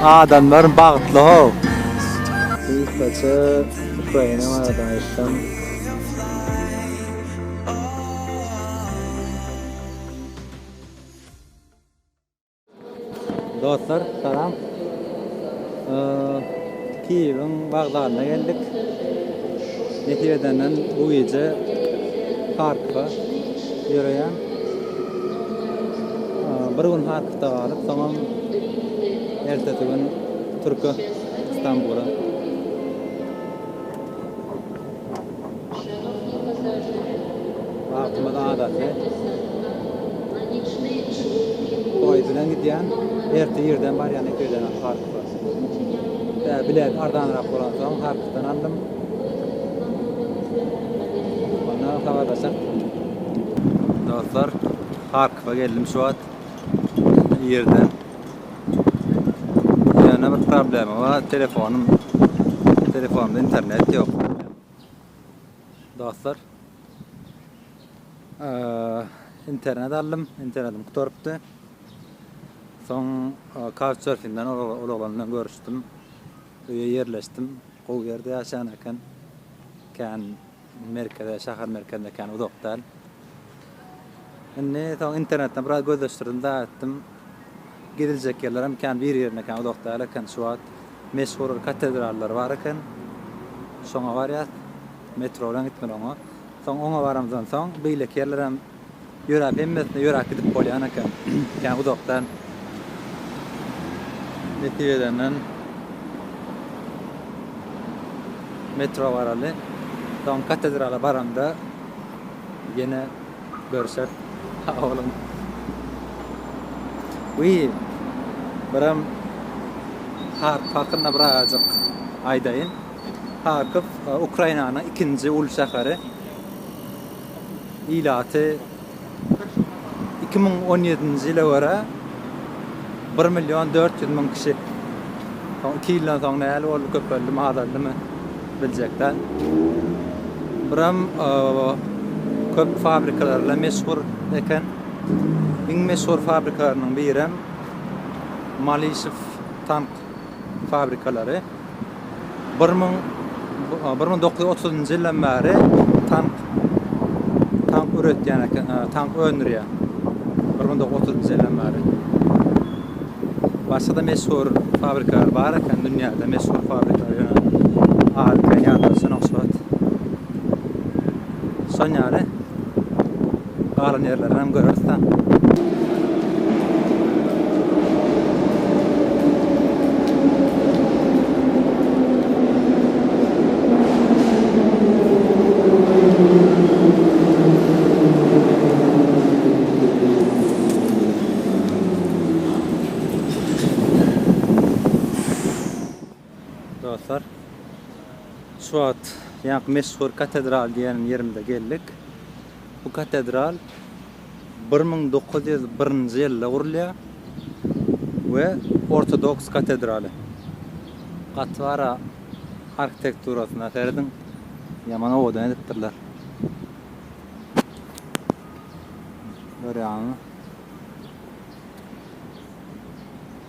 Adamlar bagtly how. Gysgaça Ukraina barada aýtsam. Dostlar salam. Kiýewiň wokzalyna geldik. Nesip edenden bu gije Harkowa ýöreýän. Bir gün Harkowda galyp, soňam ertesi gün Türke, Stambula. Wagtymyz adaty. Poýez bilen gidýän, ertir irden barýan ýöne Harkowa. Bilet arzanrak bolansoň, Harkowdan aldym. Ondan habarlaşak. Dostlar, Harkowa geldim şu wagt. Bu ýerde ýene bir problema bar. Telefonym, telefonda internet ýok. Dostlar, internet aldym, internetim gutarypdy. Soň Couchsurfingden ol oglan bilen görüşdim. Öýe ýerleşdim. Gowy ýerde ýaşaýan eken. Kän merkeze, şäher merkezine kän uzak däl. Indi soň internetden biraz gözleşdirdim, daýy etdim. Geziljek ýerler hem kän bir-birine kän uzak däl eken. Şu wagt meşhur bir katedrallar bar eken. Şoňa barýas. Metro bilen gitmeli oňa. Soň oňa baramyzdan soň beýleki ýerler hem Ýöräp hemmesine ýöräp gidip bolýan eken kän uzakdan nesip edenden metro baraly soň katedrala baramda ýene görşer sag boluň we birem Harkow hakynda birazajyk aýdaýyn Harkow Ukrainanyň ikinji uly şäheri ilaty iki müň on ýedinji ýyla görä bir million dört ýüz müň kişi soň iki ýyldan soň nähili boldy köpeldimi azaldymy biljek däl buram köp fabrikalar bilen meşhur eken iň meşhur fabrikalarynyň birem malisew tank fabrikalary bir müň dokuz ýüz otuzynjy ýyldan bäri tank tank üretýän eken, tank öndürýär. Bir müň dokuz ýüz otuzynjy ýyldan bäri. Başga-da meşhur fabrikalar bar eken, dünýäde meşhur fabrikalar ýöne adyny men ýatladyp şonok şu wagt. Şonuň ýaly Galan ýerlerinem göreris-dä. Dostlar, şu wagt ýaňky meşhur katedral diýen ýerimize geldik. Bu katedral bir müň dokuz ýüz birinji ýylda gurulýar we ortodoks katedraly. Gaty gara arkitekturasyna serediň, ýaman owadan edipdirler. Görýäňizmi?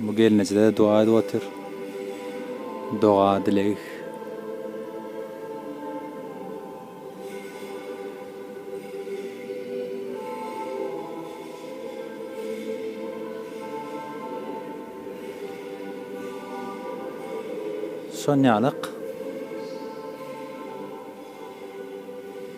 Bu gelneje-de doga edip otyr. Doga, dileg. Şonýalyk.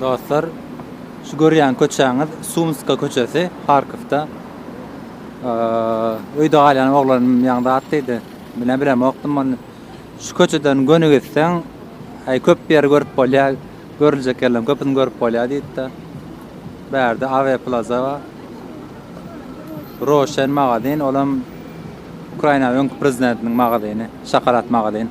Dostlar, şu görýän köçäňiz Sumska köçesi, Harkowda. Öýde galýan oglanym ýaňy zat diýdi. Mine bilemokdym ony. Şu köçeden göni gitseň, äý, köp ýeri görüp bolýar, görüljek ýerleriň köpüsini görüp bolýar diýdi-de, bärde Awe Plaza bar. Roşen magazin, olam Ukrainanyň öňki prezidentiniň magazyny, şokolad magazin.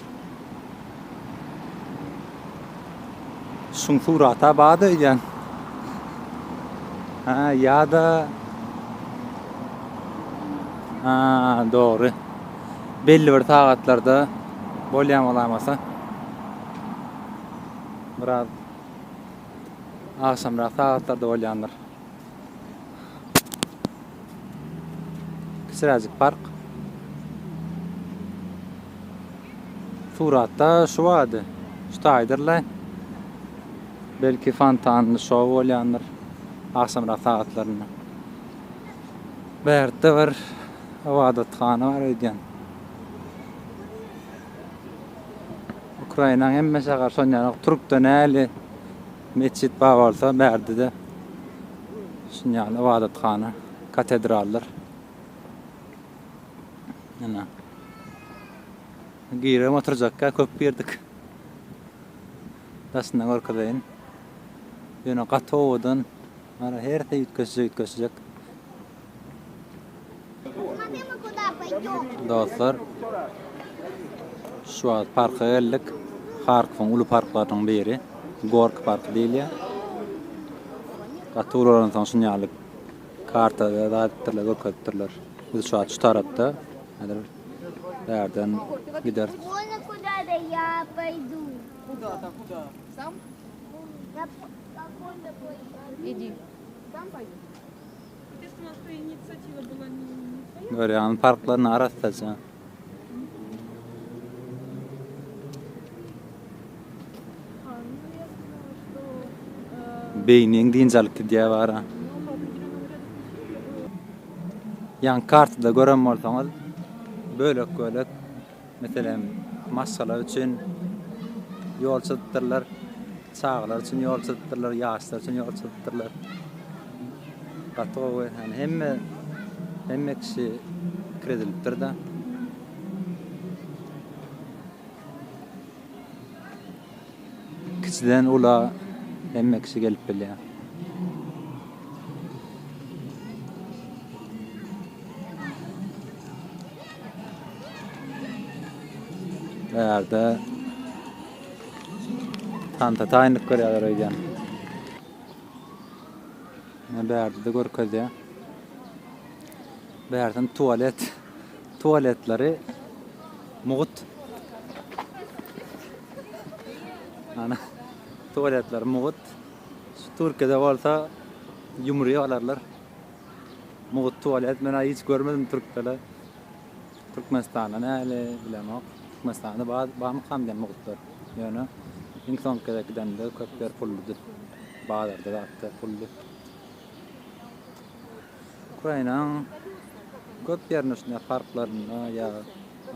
Şun surata bada öýdýän. Ha, ýa-da Ha, dogry. Belli bir sagatlarda bolýan bolamasa. Biraz agşamrak sagatlarda bolýandyr. Kiçiräjik park. Suratda şu bady. Şu taýdyrla. Belki fontanly şou bolýandyr. Agşamrak sagatlarynda. Bärde bir ybadathana bar öýdýän. Ukrainaň hemme şäher şonýanok. Türkde näli? Metjit bar bolsa, bärde-de şuny ýaly ybadathana, katedraldyr. Ene. Girem oturjakka köp girdik. Daşyndan görkezeýin. Ýöne gaty owadan. Mana hersi üýtgeşje üýtgeşjek. Dostlar. Şu wagt parka geldik. Harkowyň uly parklarynyň biri. Gork park diýilýär. Gaty ulalan soň şuny ýaly kartada da etdirler, görkezipdirler. Biz şu wagt şu tarapda. Häzir bärden gider. Kuda da ya paydu. Kuda da kuda. Sam. Görýäňmi parklaryny arassaja. Beýniň dynç alyp gidýär bara. Ýaňky kartada gören bolsaňyz bölek-bölek Meselem, maşgala üçin ýol çyzypdyrlar, çagalar üçin ýol çyzypdyrlar, ýaşlar üçin ýol çyzypdyrlar. Gaty gowy, ýagny hemme hemme kişi kiredilipdir-de. Kiçiden ula hemme kişi gelip bilýär. Bu ýerde tanta taýynlyk görýärler öýdýän. Bärde-de görkezýär. Bärden tualet. tualetleri mugut ana tualetleri mugut şu Türkiýede bolsa ýumry olarlar mugut tualet men hiç görmedim Türkdele Türkmenistanda näle bilemok Türkmenistanda bar barmykam diýen mugutlar ýöne iň soňky gezek gidende köpler pulludy bazarda zatda pully Ukrainanyň köp ýerinde şunday parklarynda ýa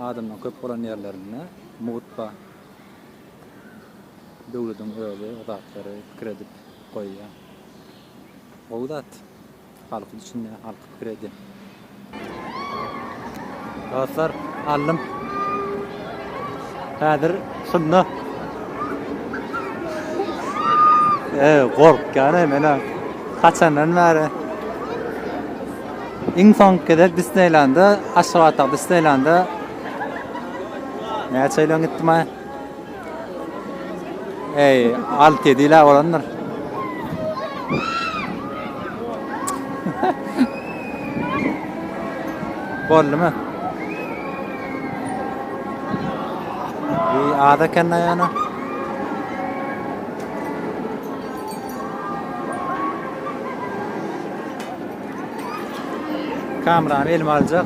adamlaryň köp bolan ýerlerinde mugt bar. Döwlediň özi o zatlary pikir edip goýýa. Gowy zat. Halky düşünýä, halky pikir edýä. Dostlar aldym. Häzir şunda. Eee gorkýan mena. Kaçandan bäri. Iň soňky gezek Disneýlanda, Aşgabatda Disneýlanda. Näçe ýyl öň gitdim ha? Eý, alty ýedi ýyla bolandyr. Boldumy? Eý, az eken-da ýana. Kamerany elime aljak.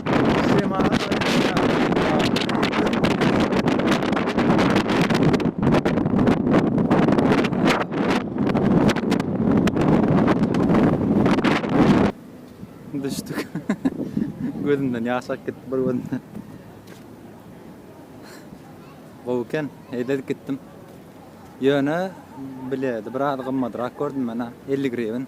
Gözümden ýaş akyp gitdi bir gözümden. Gowy eken, eýledik gitdim. Ýöne biledi, biraz gymmadrak gördüm men-ä, 50 grivin.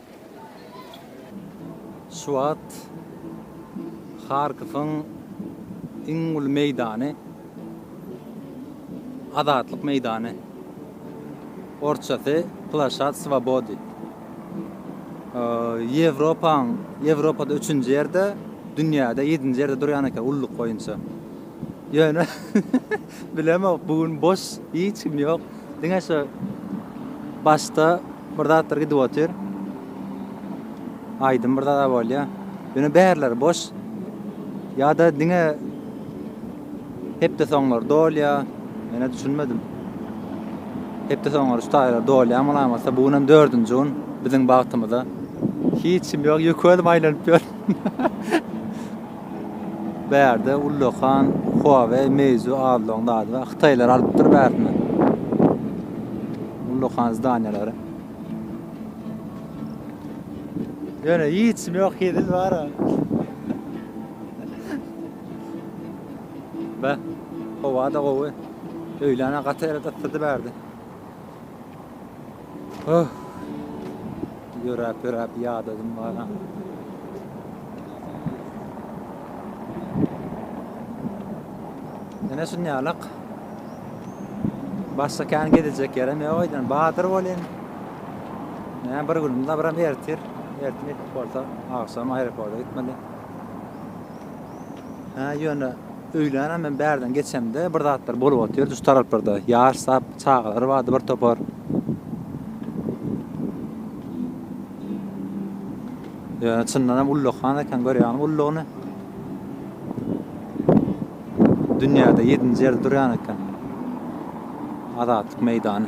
Şu wagt Harkowyň iň uly meýdany Azatlyk meýdany, orsçasy Plaşad Swobody. Ýewropaň, Ýewropada üçünji ýerde, dünýäde ýedinji ýerde durýan eken ulluk boýunça. Ýöne bilemok bu gün boş hiç kim ýok. Diňe şu başda bir zatlar gidip otyr. Aýdym bir zada bolýa. Ýöne bärler boş. Ýa-da diňe hepde soňlar dolýa. Mene düşünmedim. Hepde soňlar şu taýlar dolýa malamasa bu günem 4-nji gün biziň bagtymyza. Hiç kim ýok. Ýökölüm aýlanyp ýör. Bärde ullakan Huawei Meizu Alloň zady bar. Hytaýlar alypdyr bärsini. Ullakan zdaniýalary. Ýöne hiçim ýok, hezil bar. Be, howa-da gowy. Öýlän gaty ýere datdydy bärde. Öh! Ýöräp-ýöräp ýadadym baran. Ene şunýalak. Başga kän gezejek ýerem ýok öýden. Badyr bolýan. Näme bir günüm dabram ertir. Ertir gitip bolsa, agşam aeroporta gitmeli. Ha, ýöne Öýlänä men bärden geçemde bir zatlar bolup otyrdy şu taraplarda. Ýaş sap çagalar bardy bir topar. Ýöne çyndan hem ullakan eken görýäňmi ullugyny. Dünýäde ýedinji ýerde durýan eken. Azatlyk meýdany.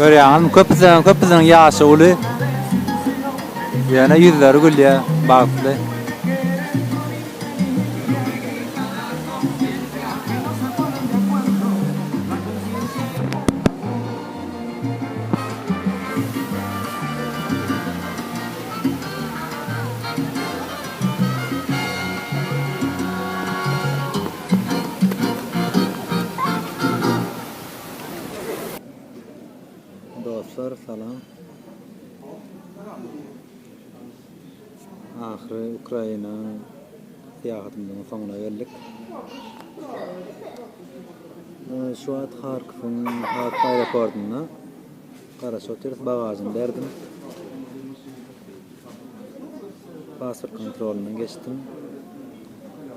Görýäňizmi, köpüsiniň, köpüsiniň ýaşy uly. Ýöne ýüzleri gülýär, bagtly. Dostlar salam. Ahyry Ukraina syýahatymyzyň soňuna geldik. Şu wagt Harkowyň Harkow aeroportunda Garaşyga ters bagažyny berdim. Pasport kontrolyndan geçdim.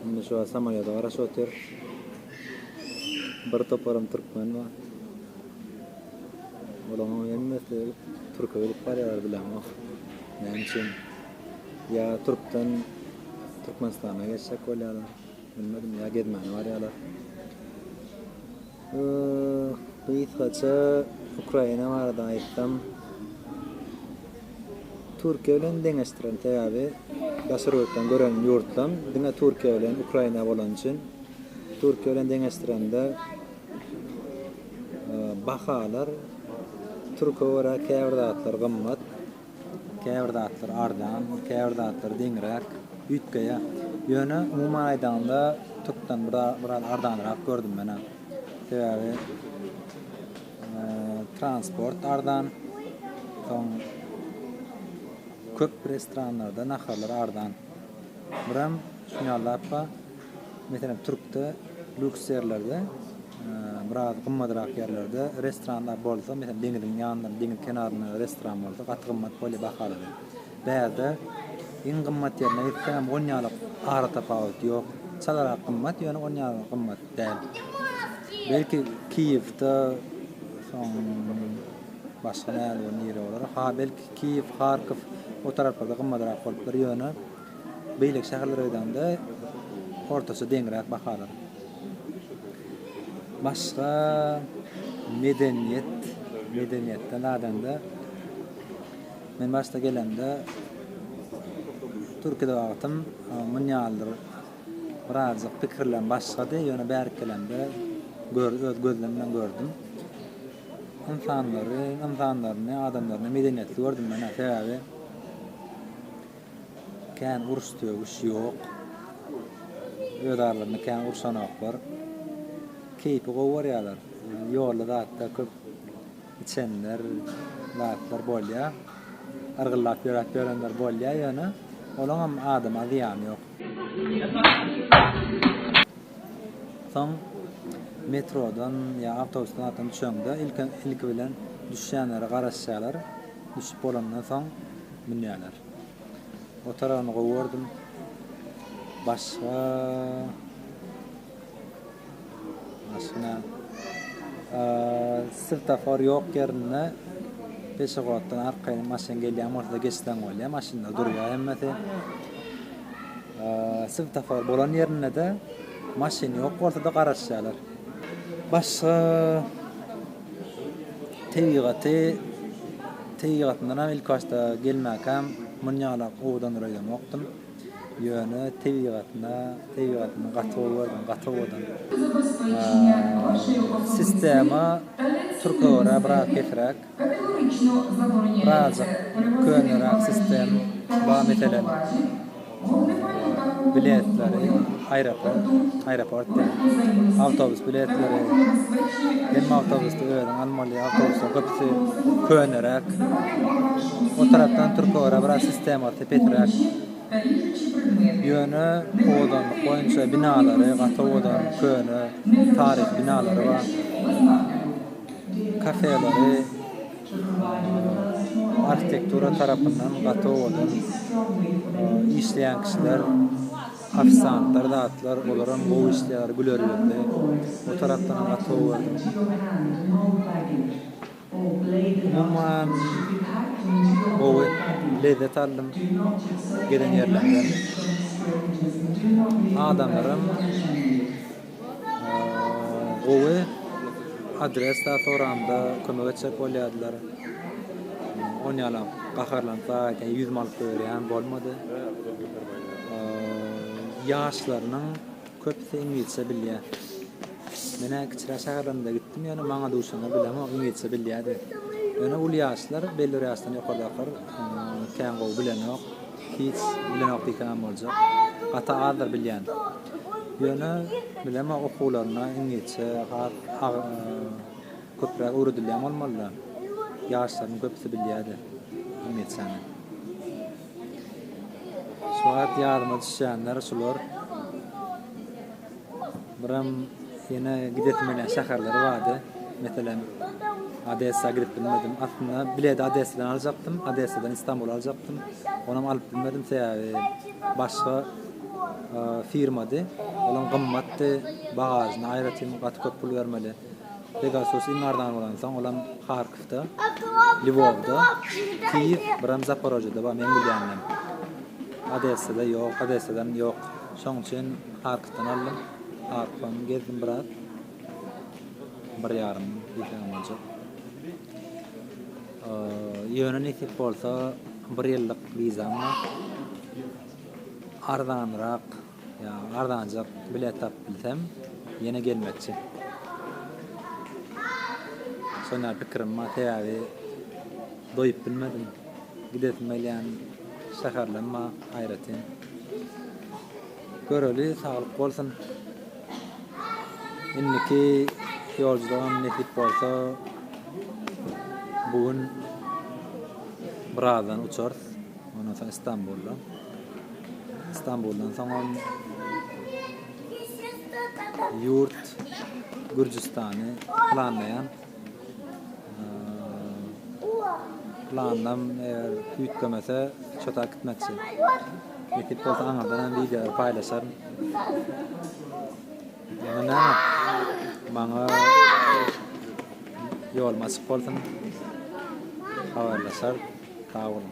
Indi şu wagt samolýoda garaşyp otyrys. Bir toparam türkmen bar. Olaňam hemmesi türke gidip barýarlar bilemok. Näme üçin? Ýa türkden Türkmenistana geçjek bolýarlar. Bilmedim ýa gezmäne barýarlar. Gysgaça Ukraina barada aýtsam, Türkiýe bilen deňeşdirerin, sebäbi daşary ýurtdan gören ýurtlam diňe Türkiýe bilen Ukraina bolany üçin, Türkiýe bilen deňeşdirende bahalar türke görä käbir zatlar gymmat. Käbir zatlar arzan, käbir zatlar deňräk, üýtgeýär. Ýöne, umuman aýdanyňda, türkden biraz arzanrak gördüm menä. Sebäbi transport arzan, soň köp restoranlarda naharlar arzan. Birem şuny ýaly zat bar. Meselem, Türkde lýuks ýerlerde, biraz gymmadrak ýerlerde restoranlar bolsa, meselem, deňiziň ýanynda, deňiz kenarynda restoran bolsa, gaty gymmat bolýar bahalary. Bärde iň gymmat ýerine gitseňem, on ýalyk ara tapawut ýok. Çalarak gymmat, ýöne on ýaly gymmat däl. Belki Kiýewde, soň başga näme nire bolar? Ha, belki Kiýew, Harkow o taraplarda gymmadrak bolup biler, ýöne. Beýleki şäherlere aýdanda, ortaça deňräk bahalar. Başga medeniýet, medeniýetden aýdanda, men başda gelemde, Türkiýede wagtym muny ýalydyr birazajyk pikirlem başgady, ýöne bärik gelemde, gör, öz gözlem bilen gördüm. Ynsanlary, ynsanlaryny, adamlaryny medeniýetli gördüm men-ä, sebäbi Kän uruş döwüş ýok. Öz aralarynda kän urşanoklar. Keýpi gowy görýärler. Ýolda zatda köp içenler zatlar bolýa. Yrgyllap ýöräp ýörenler bolýa ýöne olaňam adama zyýany ýok. Soň metrodan ýa awtobusdan zatdan düşeňde ilki bilen düşýänlere garaşýarlar. Düşüp bolandan soň. Münýärler. O taragyny gowy gördüm. Başga Maşyna Svetafor ýok ýerinde peşehoddan arkaýyn maşyn gelýän bolsa geçseň bolýar, maşynlar durýar hemmesi. Svetafor bolan ýerinde-de maşyn ýok bolsa-da garaşýarlar. Başga Tebigaty, tebigatyndanam ilkibaşda gelmäkäm muny ýalak owadan ýöreýämokdym. Ýöne tebigatyna, tebigatyny gaty gowy gördüm, gaty owadan. Sistema türke görä biraz pesräk. Birazajyk köneräk sistem bar meselem. biletleri, aeroport, aeroport däl, awtobus biletleri, hemme awtobusda özüň almaly, awtobuslar köpüsi köneräk, o tarapdan Türkogora biraz sistemasy pesiräk, ýöne owadanlyk boýunça binalary gaty owadan, köne, taryhy binalary bar, kafeleri. Arhitektura tarapyndan gaty owadan işleýän kişiler, ofisantlar zatlar olaram gowy işleýär, güler ýüzli. O tarapdanam gaty gowy gördüm. Umuman gowy, lezzet aldym gezen ýerlerden. Adamlaram. Gowy adres da soranda kömek etjek bolýardylar. On ýalam gaharlanyp gaýtaýyn ýüzümi alyp goýberýän bolmady. Ýaşlarynyň köpüsi iňlisçe bilýär. Menä kiçiräk şäherlerimize gitdim ýöne maňa duşana bilemok iňlisçe bilýär diýip. Ýöne uly ýaşlar belli bir ýaşdan ýokardakylar kän gowy bilenok. Hiç bilenok diýsemem boljak. Gaty azdyr bilýän. Ýöne bilemok okuwlaryna iňlisçe has köpräk öwredilýän bolmalyda. Ýaşlaryň köpüsi bilýädi iňlisçäni. Şu wagt ýadyma düşýänler şular. Biram ýene gidesim gelýän şäherleri bardy. Meselem, Odessa gidip bilmedim. Aslynda biledi Odessadan aljakdym, Odessadan Istanbula aljakdym. Onam alyp bilmedim, sebäbi başga firmady. Olam gymmatdy, bagažyna aýratyn gaty köp pul bermeli. Pegasus iň arzany bolansoň olam Harkowda, Lwowda, Kiýew, biram Zaporojýede bar meň bilýändem. Odessada ýok, Odessadan ýok. Şoň üçin Harkowdan aldym. Harkowam gezdim biraz. Bir ýarym ýyl diýsegem boljak. Ýöne nesip bolsa bir ýyllyk wizam bar. Arzanrak. Ýa arzanjak bilet tapyp bilsem, ýene gelmekçi. Şonda pikirim bar, sebäbi doýup bilmedim. Gidesim gelýän şäherlem bar aýratyn. Göreli, saglyk bolsun. Indiki ýolculygam nesip bolsa bu gün birazdan uçarys. Ondan soň Istanbulda. Istanbuldan soňam ýurt Gürjüstany planlaýan. Planlam eger üýtgemese, çota gitmekçi. Nesip bolsa aňyrdan hem wideolar paýlaşaryn. Ýene näme? Maňa ýolum açyk bolsun. Habarlaşarys. Sag boluň.